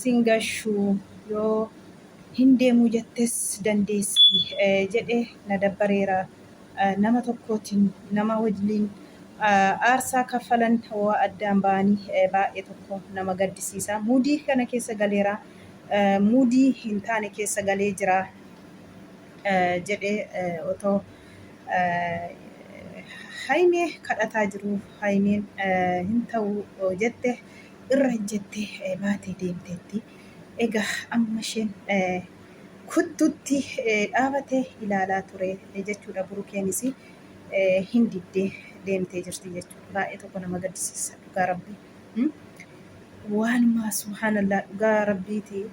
sin gashu yoo hin deemuu jettes dandeessi jedhe na dabbareera nama tokkootin nama wajliin aarsaa kaffalan waa addaan ba'ani baay'ee tokko nama gaddisiisa muudii kana keessa galeera muudii hin taane keessa galee jira jedhe otoo Hayimee kadhataa jiruu Hayimeen hin ta'uu jette irra ejjette baatee deemteetti. Egaa amma isheen kuttutti dhaabate ilaalaa ture jechuudha. Burukeenis hin diddee deemtee jirti jechuudha. Baay'ee tokko nama gaddisiisa dhugaa rabbi. Waanuma subhaanallaa dhugaa rabbiiti.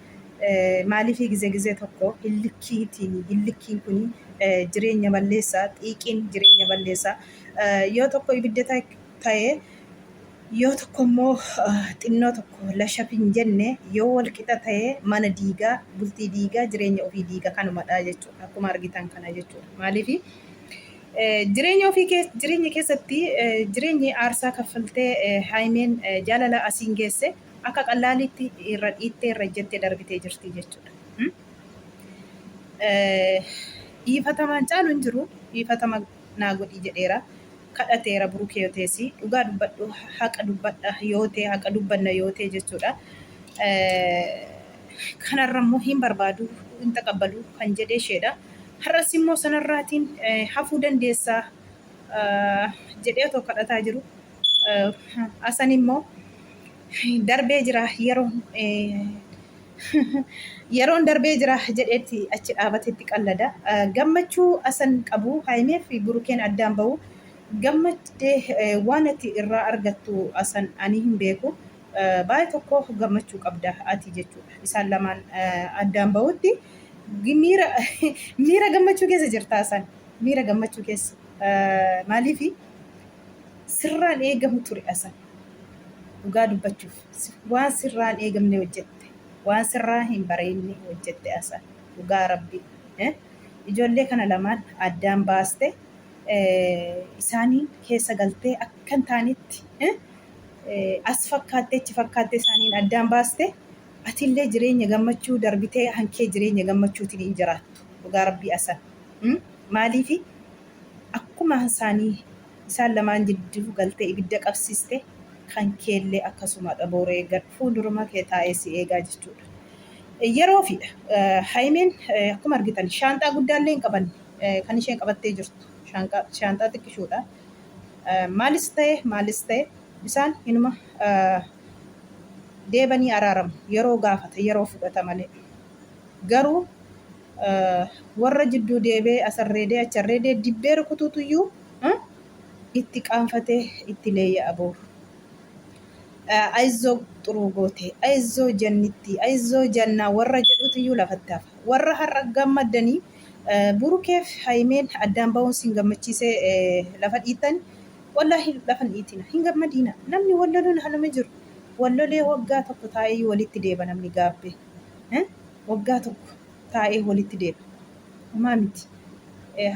Maaliifii gizee gizee tokko hillikkiitiin hillikkiin kun jireenya balleessa xiiqiin jireenya balleessa yoo tokko ibidda ta'e Yoo tokko immoo xinnoo tokko lashaf hin jenne yoo wal qixa ta'e mana diiga, bultii diiga, jireenya ofii diiga kanumadha jechuudha. Akkuma argitan kana jechuudha. Maaliif jireenya ofii keessa jireenya keessatti jireenyi aarsaa kaffaltee Haayimeen jaalala asiin geesse akka qallaaliitti irra dhiittee irra ejjettee darbitee jirti jechuudha. Dhiifatamaan caalu hin jiru. Dhiifatama naa godhii jedheera kadhateera buruke yoo ta'e si dhugaa dubbadhu haqa dubbadha yoo ta'e haqa dubbanna yoo ta'e jechuudha kanarra immoo hin barbaadu hin taqabbalu kan jedhee isheedha har'as immoo sanarraatiin hafuu dandeessaa jedhee otoo kadhataa jiru Asan immoo darbee jira yeroon yeroon darbee jira jedheetti achi dhaabatetti qallada. Gammachuu asan qabu haymee fi burukeen addaan ba'u gammaddee waan ati irraa argattu asan ani hin beeku. Baay'ee tokko gammachuu qabda ati jechuudha. Isaan lamaan addaan ba'utti miira miira gammachuu keessa jirta asan miira gammachuu keessa maaliifi sirraan eegamu ture asan dhugaa dubbachuuf waan sirraan eegamne hojjette waan sirraa hin bareenne hojjette asan dhugaa rabbi ijoollee kana lamaan addaan baaste isaanii keessa galtee akka hin taanetti as fakkaattee achi fakkaattee isaaniin addaan baaste atillee jireenya gammachuu darbitee hankee jireenya gammachuutiin hin jiraattu dhugaa rabbii asan maaliifi Akkuma isaanii isaan lamaan jidduu galtee ibidda qabsiiste, kan keellee akkasumadha. Boru eeggadhu. Fuulduruma kee taa'ee si eegaa jechuudha. Yeroofiidha. Hayimiin akkuma argitan shaanxaa guddaallee hin qabanne. Kan isheen qabattee jirtu shaanxaa xiqqishoodha. Maalis ta'e maalis ta'e isaan inuma deebanii araaramu. Yeroo gaafata, yeroo fudhata malee. Garuu Warra jidduu deebee as arreedee achi arreedee dibbee rukutuutu iyyuu itti qaanfatee itti leeyya'a booru. Ayizoo xuruu gootee, ayizoo jannittii, ayizoo jannaa warra jedhuutu iyyuu lafatti hafa. Warra har'a gammaddanii burukeef hayimeen addaan ba'uun sin gammachiisee lafa dhiittan wallaahi lafa hin dhiitina hin gammadiina namni walloluun haluma jiru wallolee waggaa tokko taa'ee iyyuu walitti deeba namni gaabbee. waggaa tokko taa'ee walitti deebi'a. Homaa miti.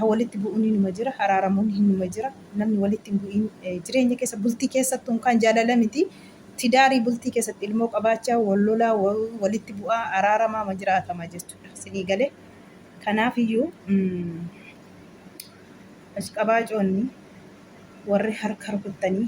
Walitti bu'uun inuma jira, araaramuun inuma jira. Namni walitti hin bu'in jireenya keessa bultii keessattuu kan jaalala miti. Tidaarii bultii keessatti ilmoo qabaachaa wal lolaa walitti bu'aa araaramaama jiraatama jechuudha. Sinii galee kanaaf iyyuu ashqabaacoonni warri harka rukuttanii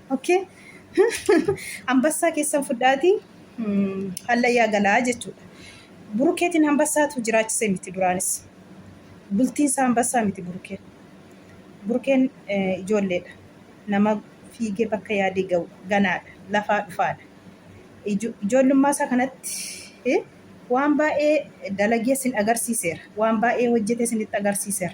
Okay? Hambassaa keessan fudhaatii mm, hallayyaa galaa jechuudha. Burukeetiin hambassaatu jiraachise miti duraanis. Bultiinsa hambassaa miti burukeen. Burukeen eh, ijoolleedha. Nama fiigee bakka yaadee ga'u ganaadha. Lafaa dhufaadha. Ijo- Ijoollummaa isaa kanatti eh, waan baay'ee dalagee sin agarsiiseera. Waan baay'ee hojjetee sinitti agarsiiseera.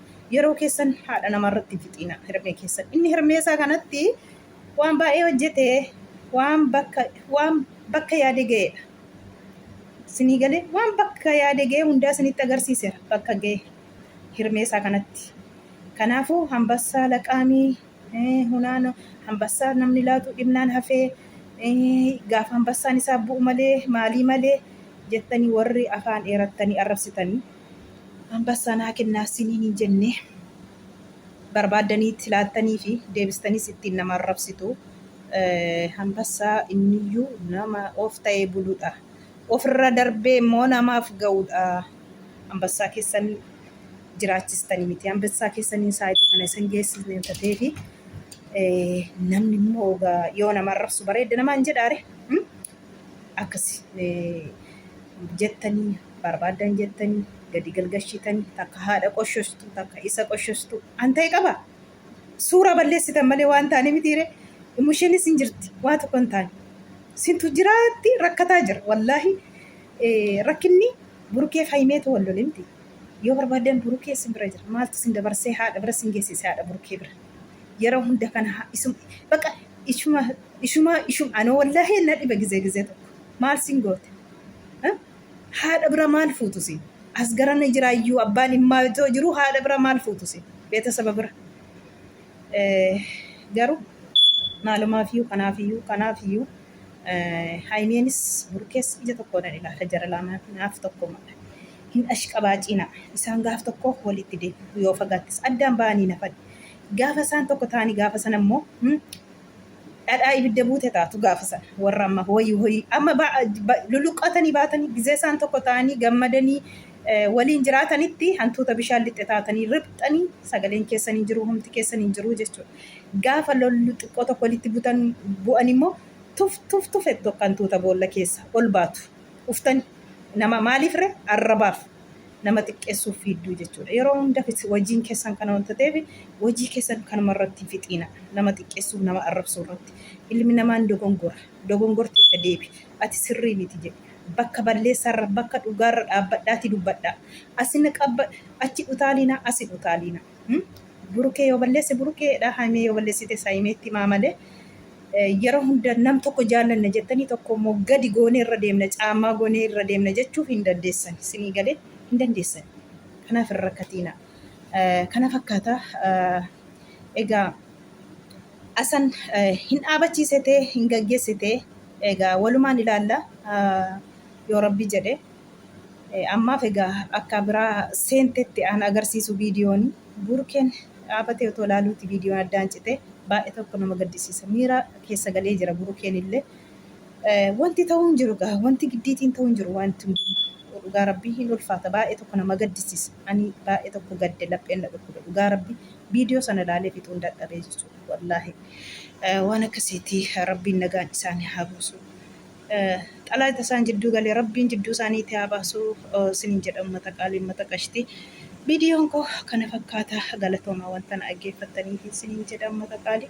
Yeroo keessan haadha namaa irratti hin fixiina hermee keessan inni hermee isaa kanatti waan baay'ee hojjete waan bakka waan bakka yaade ga'eedha sinii galee waan bakka yaade ga'ee hundaa sinitti agarsiiseera bakka ga'e hermee isaa kanatti kanaafuu hambassaa laqaamii eh, hunaan hambassaa namni laatu dhibnaan hafee eh, gaafa hambassaan isaa bu'u malee maalii malee jettanii warri afaan dheerattanii arrabsitanii Anbassaa naa kennaa isiniin hin jennee? Barbaaddaniit laattaniifi deebistanis ittiin nama arrabsitu. Anbassaa inniyyuu nama of ta'ee buludha. Ofirra darbee immoo namaaf ga'udha. Anbassaa keessan jiraachistanii miti. Anbassaa keessaniin saayitii kana isin geessisne hin tateefi namni immoo ogaa yoo nama arrabsu bareedda namaan jedhaare akkasi jettanii barbaaddan jettanii gadi galgashitanii takka haadha qoshostu takka isa qoshostu an ta'e qaba suuraa balleessitan malee waan taane mitiire immusheenis hin jirti waa tokko hin taane sintu jiraatti rakkataa jira wallaahi eh, rakkinni burukee fayimeetu wal lole miti yoo barbaaddan burukee isin bira jira maaltu isin dabarsee haadha bira isin geessise haadha burukee bira yeroo hunda kana haa- isum baqa ishuma ishuma ishum anoo wallaahi na dhiba gizee gizee tokko maal sin goote Eh? Haadha bira maal fuutu isin? As garana jira iyyuu abbaan dhimmaa itoo jiru haadha bira maal fuutu isin? Beetasaba bira. Eh, Garuu maalumaaf iyyuu kanaaf iyyuu kanaaf iyyuu eh, Haayimeenis Burkees ija tokkoodhaan ilaala jara laamaan naaf tokkumadha. Hin ashqabaaciina. Isaan gaaf tokko walitti deebi'u yoo fagaattis addaan ba'anii nafan. Gaafa isaan tokko ta'anii gaafa sana immoo hmm, Dhadhaa ibidda buute taatu gaafa sana. Warra amma hoyi hoyi amma ba, ba, luluqqaatanii baatanii gizee isaan tokko ta'anii gammadanii eh, waliin jiraatanitti hantuuta bishaan lixxe taatanii riphxanii sagaleen keessan hin jiru humti keessan hin jiru jechuudha. Gaafa lollu xiqqoo tokko walitti butan bu'an immoo tuf tuf tuf ettu akka hantuuta boolla keessa ol baatu. Uftani nama maaliif re arrabaaf. nama xiqqeessuuf fiidduu jechuudha. Yeroo hunda hojiin keessan kana wanta ta'eef hojii keessan kanuma irratti hin fixiina. Nama xiqqeessuuf nama arrabsuu irratti. Ilmi namaan dogongora. Dogongorti itti deebi. Ati sirrii miti jedhi. Bakka balleessaarra bakka dhugaarra dhaabbadhaatii dubbadhaa. Asina qabba achi dhutaaliinaa asin utaaliinaa. Burukee yoo balleesse burukeedha, Haymee yoo balleessites Haymeetti himaa malee yeroo hunda nam tokko jaallanna jettanii tokko immoo gadi goonee irra deemna, caammaa goonee irra deemna jechuu hin dandeessan. Sinii galee hin dandeessan. Kanaaf hin rakkatiina. Kana fakkaata egaa asan hin dhaabachiisete hin gaggeessite egaa walumaan ilaalla yoo rabbi jedhe. Ammaaf egaa akkaa biraa seentetti aan agarsiisu viidiyooni buurkeen dhaabatee otoo laaluuti viidiyoon addaan cite baay'e tokko nama gaddisiisa miira keessa galee jira burukeen illee wanti ta'uu hin jiru gaa wanti giddiitiin ta'uu hin jiru wanti hunduu dhugaa rabbii hin ulfaata baay'e tokko nama gaddisiisa ani baay'e tokko gadde lapheen na dhukkube dhugaa rabbii viidiyoo sana laalee fixuun dadhabee jechuudha wallaahi waan akkasiitii rabbiin nagaan isaanii haa buusu xalaata isaan jidduu gale rabbiin jidduu isaaniitti haa baasu isiniin jedha ummata qaalii ummata qashti viidiyoon koo kana fakkaata galatoomaa wanta na dhaggeeffattaniif isiniin jedha ummata qaalii.